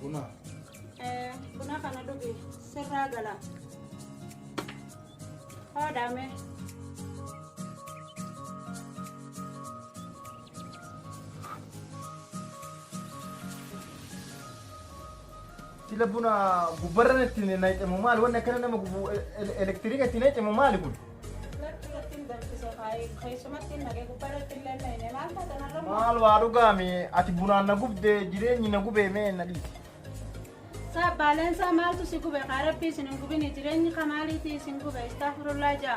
Buna. Eh, buna kana dhugi sirraa gala. Hoodhaame. Sila buna gubbarran itti nayxe moo maali wanni akkana nama gubu elektirika itti nayxe moo maali kun? Lakki irratti hin danfise kaayee keessumatti hin naqee gubbaa irratti hin lenna'ine maal taatan har'a immoo Maal waa dhugaame ati bunaan na gubde jireenyi na gubee mee na dhiisi. saa baaleensaa maaltu si gube kaa rabbii isin hin gubini jireenyi ka maaliitii isin gube istaafurullaa jaa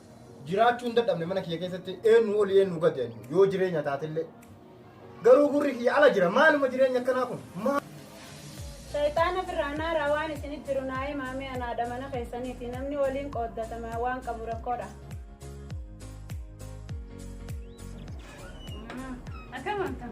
jiraachuu hin dadhabne mana kiyya keessatti eenyu oli eenyu gadi ani yoo jireenya taatellee garuu gurri kiyya ala jira maaluma jireenya akkanaa kun maal Shayxaana firraanaa rawaan isinit jiru naa himaamee anaadha mana keessaniiti namni waliin qooddatama waan qabu rakkoodha. Akkam akkam.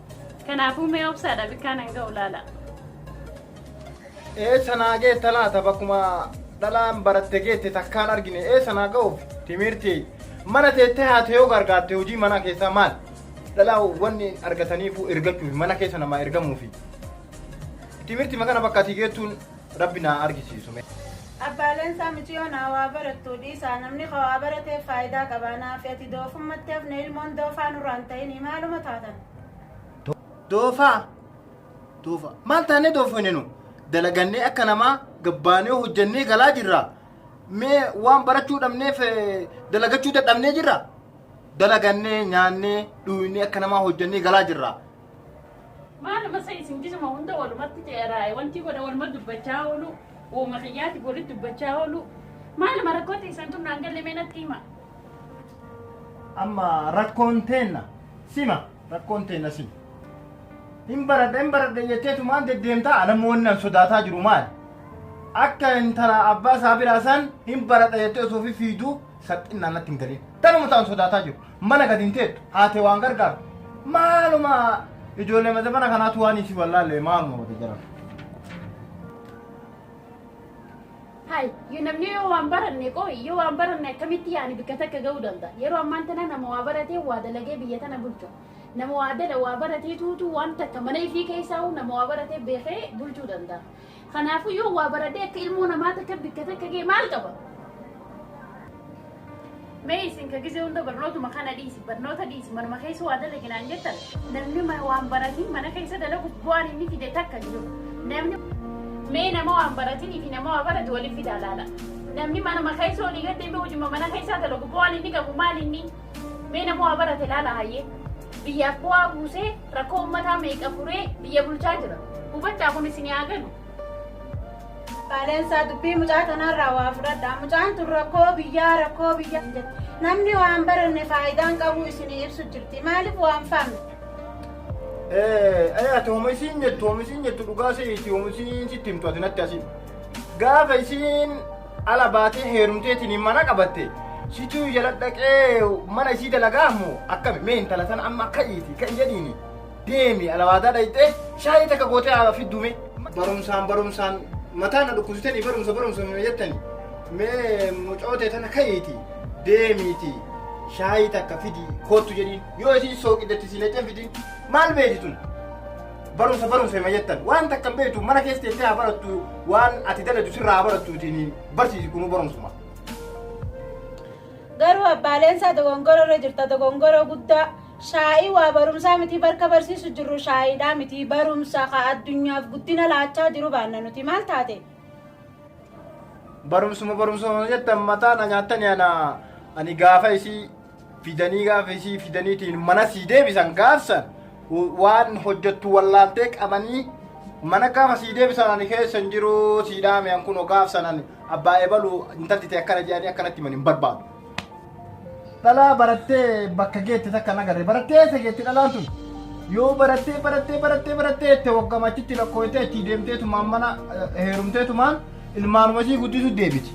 Kanaafuu mee obsaadha bikkaan hanga ulaala. Eessa naa geetta laata bakkuma dhalaan baratte geette takkaan argine eessa naa ga'uuf timirti mana teettee haate yoo gargaarte hojii manaa keessaa maal dhalaa wanni argataniifuu ergachuuf mana keessa namaa ergamuufi timirti makana bakka ati geettuun Rabbi naa argisiisu mee. Abbaa leensaa miciyoon haa waa barattuu dhiisaa namni ka waa barateef faayidaa qabaa naafi ati doofummatti hafne ilmoon doofaa nurraan ta'inii maaluma taatan. Doofaa? Doofaa. Maal taanee doofoyne nu? Dalagannee akka namaa gabbaanee hojjannee galaa jirra. Mee waan barachuu dhabneef eh, dalagachuu dadhabnee jirra. Dalagannee nyaannee dhuuynee akka namaa hojjannee galaa jirra. Maal masa isin gisuma hunda walumatti ceeraa'e wanti godha waluma dubbachaa oolu uuma kiyyaati walitti dubbachaa oolu maal marakkooti isin tun naan galle mee natti hima. Amma rakkoon teenna sima rakkoon teenna sima. Hin baradha hin baradha jetteetu maal deddeemtaa alammoo wanni an sodaataa jiru maali? Akka intala abbaa isaa biraa san hin baradha jettee osoo fifiiduu Salphinnaan natti hin galin. Tanuma ta'an sodaataa jiru. Mana gadi hin teettu. Haatee waan gargaartu. Maaluma ijoollee mata mana kanaatu waan isii wallaallee maaluma wata jiran. Hai, yoo namni yoo waan baranne qoo yoo waan baranne akkamitti yaani bikka takka ga'uu danda'a. Yeroo ammaan tana nama waa baratee waa dalagee biyya tana bulchu. Nama waa dala waa baratee tuutu waan takka mana ifii keessaa nama waa baratee beekee bulchuu danda'a. Kanaafuu yoo waa baradee akka ilmoo namaa takka bikka takka ga'e maal qaba? Mee isin ka gisee hunda barnootuma kana dhiisi barnoota dhiisi manuma keessa waa dalaginaan jettan namni mana waan baratiin mana keessa dalagu bu'aan inni fide takka jiru namni mee nama waan baratiin fi nama waa barate waliin fidaa laala namni manuma keessa olii gaddee mee hojima mana keessaa dalagu bu'aan inni qabu maal inni Mee nama waa barate laala hayyee. Biyyaaf bu'aa buusee rakkoo uummataa meeqa furee biyya bulchaa jira. Hubadhaa kun isin yaa galu. Baaleensaa dubbii mucaa kanarraa waa fudhadha. Mucaan tun rakkoo biyyaa rakkoo biyyaa hin jettu. Namni waan baranne faayidaan qabu isinii ibsu jirti. Maaliif waan faamne? Ee, ati homa isiin jettu, homa isiin jettu dhugaa se'iti, homa isiin sitti himtu ati natti asiin. Gaafa isiin ala baatee heerumteetiin mana qabatte situu jala dhaqee mana isii dalagaa ammoo akkami mee intala sana amma ka'iiti ka'i jedhiini deemi alawaadaa dhayxee shaayii takka gootee haa fiddume barumsaan barumsaan mataa na dhukkubsitanii barumsa barumsa mee jettani mee mucootee tana ka'iiti deemiiti shaayii takka fidi koottu jedhiin yoo isiin sooqidatti siinetee fidin maal beeti tun barumsa barumsa hima jettan waan takkan beektu mana keessa teessee haa barattu waan ati daladu sirraa haa barattuutiin barsiisi kunuu barumsuma. Garuu abbaaleen isaa dogongora irra jirta dogongora guddaa shaa'ii waa barumsaa miti barka barsiisu jirru shaa'iidhaa miti barumsa ka addunyaaf guddina laachaa jiru baanna nuti maal taate? Barumsuma barumsuma jettan mataa na nyaattani ana ani gaafa isii fidanii gaafa isii fidaniitiin mana sii deebisan gaafsan waan hojjettu wallaaltee qabanii mana gaafa sii deebisan ani keessa hin jiru sii dhaame an kunoo gaafsan ani abbaa ebalu intalti ta'e akkana jedhanii akkanatti himan hin barbaadu. Dhalaa barattee bakka geette takka nagarre barattee eessa geette dhalaan tun yoo barattee barattee barattee barattee itti waggama achitti lakkooytee achi deemteetumaan mana heerumteetumaan ilmaanuma isii guddisuu deebiti.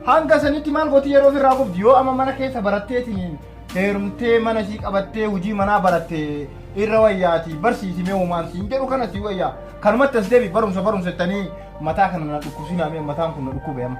Hanga sanitti maal gooti yeroo ofirraa gubdi yoo amma mana keessa baratteetiin heerumtee mana isii qabattee hojii manaa baratte irra wayyaati barsiisi mee uumaan siin jedhu kana sii wayyaa kanumatti as deebi barumsa barumsa jettanii mataa kana na dhukkubsinaa mee mataan kun na dhukkube amma.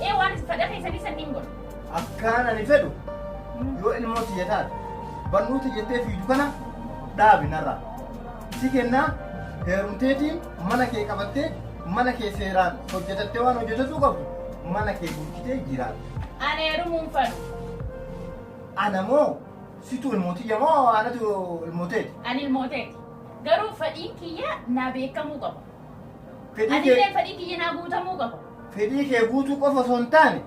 Ee waan isin fedha keessanii sanniin godha. Akkaan ani fedhu yoo ilmoo tiyya taate barnoota jettee fiidu kana dhaabi narraa. Si kennaa heerumteetiin mana kee qabattee mana kee seeraan hojjetattee waan hojjetatuu qabdu mana kee bulchitee jiraatta. Ani heerumuun fedhu. Ana moo situ ilmoo tiyya moo anatu ilmoo teeti? Ani ilmoo teeti. Garuu fedhiin kiyya naa beekamuu qaba. Fedhii Ani kee- illee fedhii kiyya naa guutamuu qaba. fedhii kee guutuu qofa osoo hin taane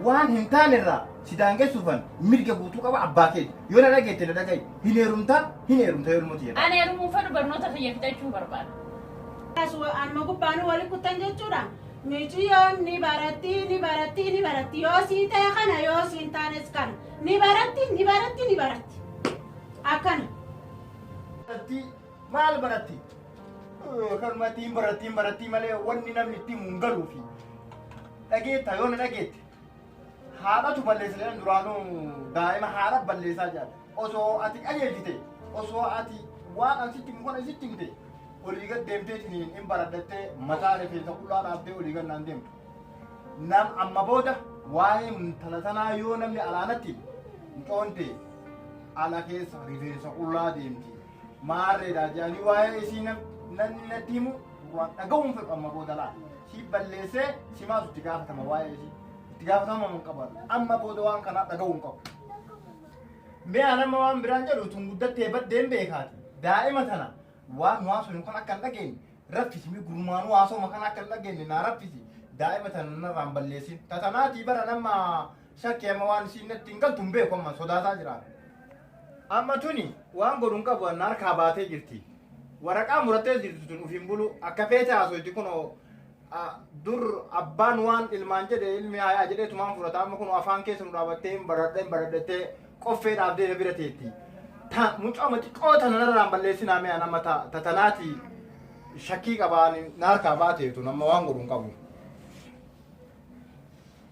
waan hin taane irraa si daangessuufan mirga guutuu qaba abbaa keeti. Yoo na dhageette na dhaga'i. Hin heerumta, hin heerumta yoo ilmoo tiyya taate. Ani heerumuu fedhu barnoota kiyya fixachuu barbaada. Kanas anuma gubbaanuu wali kuttan jechuudha. Miciyyoon ni baratti, ni baratti, ni baratti. Yoo sii ta'e kana, yoo siin taanes kana. Ni baratti, ni baratti, ni baratti. Akkana. Irratti Maal baratti? Kanuma ittiin baratti hin baratti malee wanni namni ittiin mun galuufi. Dhageetta yoo na dhageette. Haadhatu balleessa jedhan duraanuu daa'ima haadha balleessaa jedhan. Osoo ati qajeelchite osoo ati waan an sitti himu kana sitti himte olii gad deemtee isiniin hin baradhattee mataa rifeensa qullaa dhaabdee olii gad naan deemtu. Nam amma booda waa'ee intala tanaa yoo namni alaanatti hin coonte ala keessa rifeensa qullaa deemti. Maarreedha jedhanii waa'ee isii namni natti himu waan dhaga'uun fedhu amma booda laata. Si balleessee si maatu itti gaafatama waa'ee isii. Itti gaafatama hin qabaatu. Amma booda waan kanaa dhaga'uun qabu. Mee an amma waan biraan jedhu tun guddattee baddeen beekaati. Daa'ima tana waan waan sun kan akka hin dhageenye raffisi mi gurmaanuu haasoma kan akka hin dhageenye naa raffisi. Daa'ima tana narraan balleessin. Tatanaatii bara nama shakki amma waan isiin natti hin galtu hin beeku amma sodaataa jira. Amma tuni waan godhu hin qabu anna harkaa baatee jirti. Waraqaa murattee jirtu tun of hin bulu akka feete haasoyti kunoo ah, dur abbaan waan ilmaan jedhe ilmi haayaa jedhee tumaan fudhata amma kunoo afaan keessa nu dhaabattee hin baradhe hin baradhettee qoffee dhaabdee na bira teetti. Ta mucaa mati qoota nanarraan balleessinaa mee anamma ta ta tanaati shakkii qabaan na harkaa baateetu nama waan godhu hin qabu.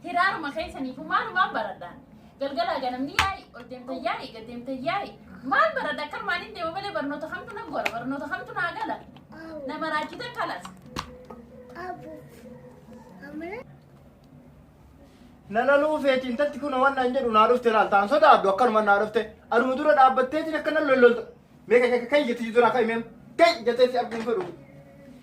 Hiraaruma keessanii kun maalumaan baradhaan. Galgalaa ganamni yaa'i, ol deemtan yaa'i, gad deemtan yaa'i. Maal baradha akka armaan hin deemu malee barnoota kamtu nan gora, barnoota kamtu naa gala. Nama raachitan kalas. Nana luufeeti intatti kun waan naan jedhu naa dhufte laal taan sodaadhu akkanuma naa dhufte aduma dura dhaabbatteetiin akka nan lollolta. Mee kan kan jetti dura kan himee kan jetteetti arguun fedhu.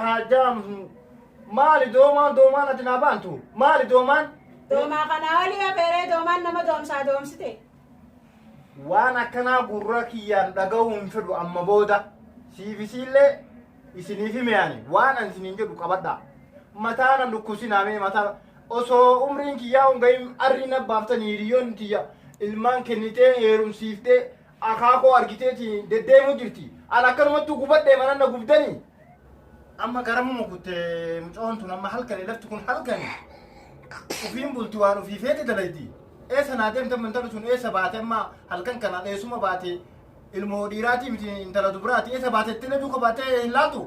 Haajaa maali doomaan doomaan ati naa baantu maali doomaan Doomaa kanaa olii afeeree doomaan nama doomsaa doomsite. waan akkanaa gurra kiyyaan dhaga'uu hin fedhu amma booda siifisiillee isiniif himeani waan an isiniin jedhu qabadha mataa na dhukkusinaa mee mataa osoo umriin kiyyaa hin gahin arrii na baaftanii hiriyoonni tiyya ilmaan kennitee heerumsiiftee akaa koo argiteeti deddeemuu jirti an akkanumattuu gubadhee manan na gubdanii amma garamuma kutte mucoon tun amma halkani lafti kun halkani ufiin bulti waan ufii feete dalayti eessa naa deemte amma intalli tun eessa baate amma halkan kana dheessuma baate ilmoo dhiiraatii miti intala dubaraati eessa baate ittillee duuka baatee hin laatu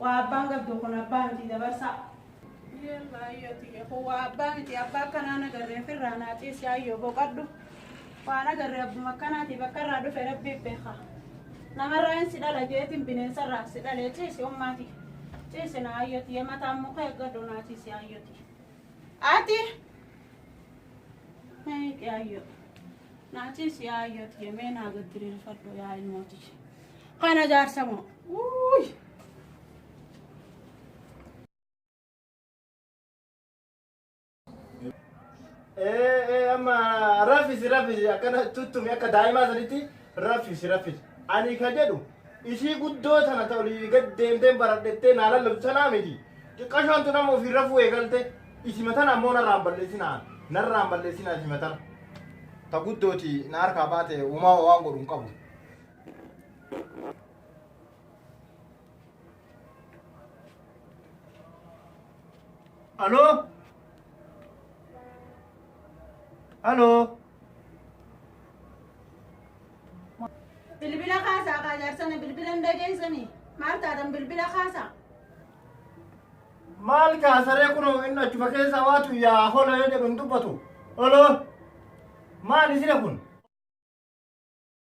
Waa abbaan gabdoo kun abbaa miti dabarsaa. Yalla ayyoo tiyya kun waa abbaa miti abbaa akkanaa nagarree firraa naa ciisi ayyoo boqadhu. Waa nagarree abbuma akkanaati bakka irraa dhufe rabbiif beeka. Namarraa hin si dhala jeetiin bineensarraa si dhalee ciisi ummaati. Ciisi naa ayyoo tiyya mataan muka eeggadhu naa ciisi ayyoo tiyya. Ati. Meeqi ayyoo. Naa ciisi yaa ayyoo tiyya mee naa gaddiriirfadhu yaa ilmoo tiyya. Kana jaarsa moo. Uuy. Ee ee amma rafisi rafisi akkana tuttumi akka daa'imaa sanitti rafisi rafisi. Ani ka jedhu isii guddoo tana ta olii gad deemtee baradhettee naa lallabdu sanaa miti. Xiqqashoon tun amma ofii rafuu eegalte isima tana ammoo narraan balleessinaa narraan balleessinaa isima tana. Ta guddooti na harkaa baate uumaa waan godhu hin qabu. Aloo? Aloo? Bilbila kaasaa kaa jaarsana bilbila hin dhageessani. Maal taatan bilbila kaasaa? Maal kaasaree kunoo inni achuma keessa waatu yaa hola yoo jedhu hin dubbatu. Aloo? Maal isina kun?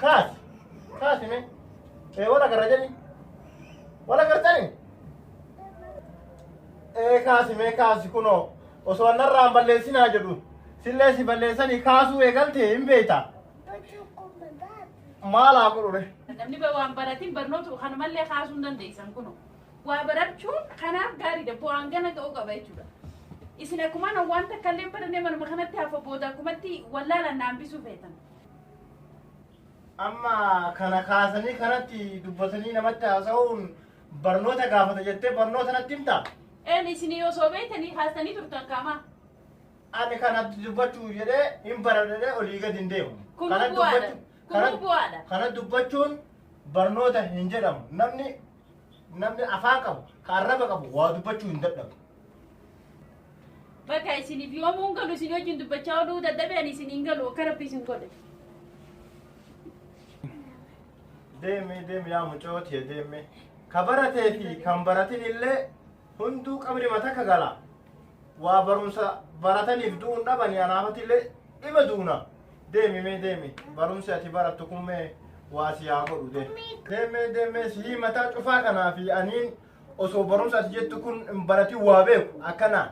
Kaas. Kaasi mee. Ee wal agarra jedhi. Wal agartani? Ee kaasi mee kaasi kunoo. Osoo an narraa hin balleessinaa jedhu. Sillee si balleessanii kaasuu eegalte hin beekta. Maal haa godhure? Namni ba- waan baratiin barnoota kana malee kaasuu hin dandeessan kunoo. Waa barachuun kanaaf gaariidha. Bu'aan gana ga'uu qaba jechuudha. Isin akkuma waan takka illee barannee manuma kanatti hafa booda akkumatti wallaalaan naambisuu feetan. Amma kana kaasanii kanatti dubbatanii namatti haasa'uun barnoota gaafata jettee barnoota natti himta. Een isinii osoo beektanii haastanii turtan kaamaa. Ani kanatti dubbachuu jedhee hin baradhee olii gadi hin deemu. Kun Kanatti bu'aadha. dubbachuu- Kun kanatti- bu'aadha. Kana dubbachuun barnoota hin jedhamu. Namni namni afaa qabu ka arraba qabu waa dubbachuu hin dadhabu. Bakka isiniif yoomuu hin galu isin wajjin dubbachaa oduu dadhabeen isin hin galu akka rabbi isin godhe. Deemi deemi yaa mucoo tee deemi. Ka baratee fi kan baratin illee hunduu qabri mata ka gala. Waa barumsa barataniif du'uun dhabanii anaafati illee dhima duuna. Deemi mee deemi. Barumsi ati barattu kun mee waa si haa godhu de. Deemee deemee sihii mataa cufaa kanaa fi aniin osoo barumsa ati jettu kun hin baratin waa beeku akkanaa.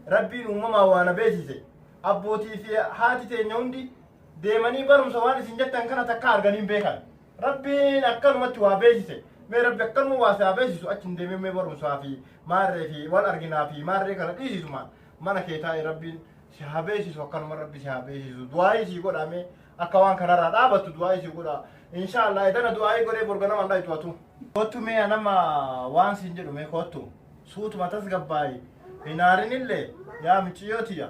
Rabbiin uumamaa waa na beeksise. Abbootii fi haati teenya hundi deemanii barumsa waan isin jettan kana takka arganii hin beekan. Rabbiin akkanumatti waa beeksise. Mee rabbi akkanuma waa si haa beeksisu achi hin deemee mee barumsaa fi maarree fi wal arginaa fi maarree kana dhiisisuma mana kee taa'e rabbiin si haa beeksisu akkanuma rabbi si haa beeksisu du'aayii sii godhaa mee akka waan kanarraa dhaabattu du'aayii sii godhaa inshaallah etana du'aayii godhee borga naman dhaytu atu kottu mee anama waan siin jedhu mee kottu suutuma tasgabbaayi hin aarinillee yaa miciyyoo tiyya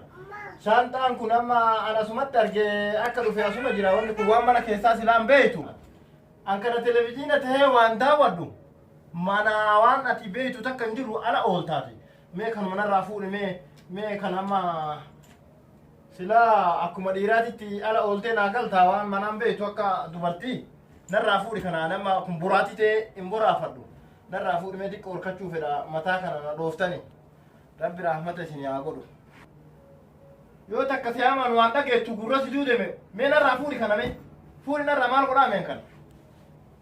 shaanxaan kun amma an asumatti argee akka dhufe asuma jira wanni kun waan mana keessaa silaan beeytu an kana televiziina tahee waan daawwadhu mana waan ati beeytu takka hin jiru ala ooltaati mee kanuma narraa fuudhe mee mee kan amma silaa akkuma dhiiraatitti ala ooltee naa galtaa waan manaan beektu akka dubartii narraa fuudhi kanaan amma kun boraatii ta'ee hin boraafadhu narraa fuudhi mee xiqqoo horkachuu fedha mataa kana na dhooftani rabbi rahmata isin haa godhu yoo takka si hamaan waan dhageettu gurra si duudeme mee narraa fuudhi kana mee fuudhi narraa maal godhaa meen kana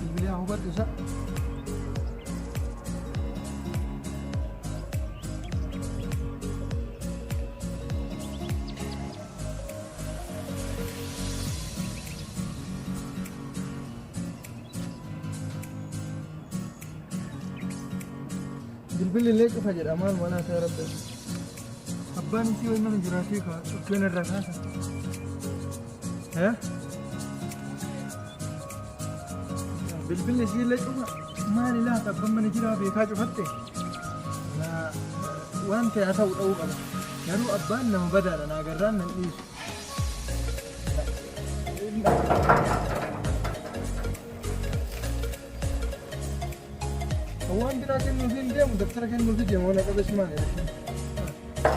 Bilbilee hubadhu isa. Bilbilli illee cufa jedha maal manaa ta'e rabbi. Abbaan isii wayii mana jiraatee kaa cuffeen irraa kaasa. Bilbilli isiillee cufa maali laata abban mana jiraa beekaa cufatte waan ta'e haa ta'u dha'uu qaba garuu abbaan nama badaadha naa garraan nan dhiisu. Waan biraa kennuufi hin deemu dabtara kennuufi deemu waan qabeessumaan jedhama.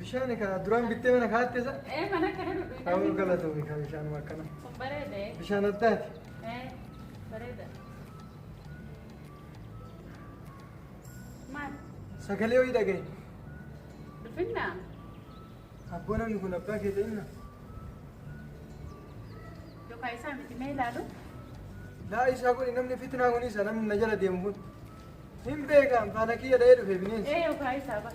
Bishaan ka duraan bittee mana kaatte sa? Ee mana akka na dhudhu. Hawwa galatoomi ka bishaanuma akkana. Kun bareedee. Bishaan addaati. Ee bareeda. Maal? Sagalee ho'i dhagaye. Dhufinnaa? Abboo namni kun abbaa kee ta'inna. Yookaan isaa miti mee ilaalu? Laa isaa kun namni fitnaa kun isa namni na jala deemu kun. Hin beekaan faana kiyya dha'ee dhufe bineensi. Ee yookaan isaa ba'a.